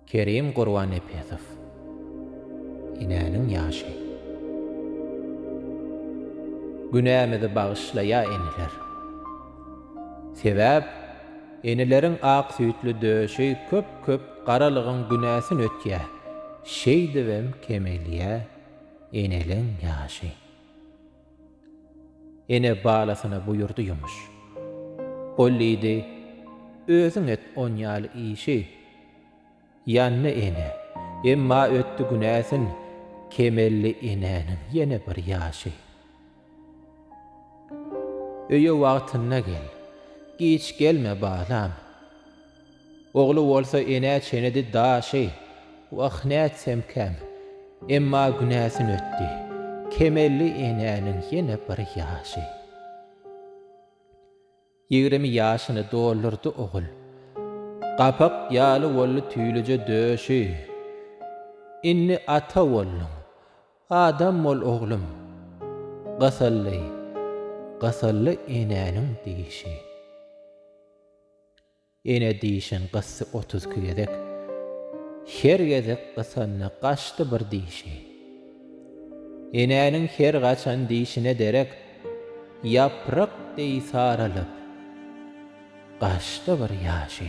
Kerim Gurbannepesow Enäniň ýaşy Günämizi bagyşlaýa eneler. Sebäp eneleriň ak süýtli döşi köp köp garalygyň günäsin ötýä şeýdibem kemelýä eneliň ýaşy. Ene balasyna buýurdy ýumuş. Ol diýdi, Özüň et on ýaly işi. Ýandy ene, emma ötdi günäsin, Kemeldi enäniň ýene bir ýaşy. Öýe wagtynda gel, giç gelme balam. Ogly bolsa enä çenedi daşy, wah nätsemkäm, emma günäsin ötdi, kemeldi enäniň ýene bir ýaşy. Ýigrimi ýaşyny doldurdy ogul, gapak ýaly boldy tüýlüje döşi. Indi ata bolduň, adam bol oglum, gysyldy, gysyldy enäniň dişi. Ene dişin gysdy otuz iki gezek. Her gezek gysanda gaçdy bir dişi. Enäniň her gaçan dişine derek ýaprak deý saralyp, gaçdy bir ýaşy.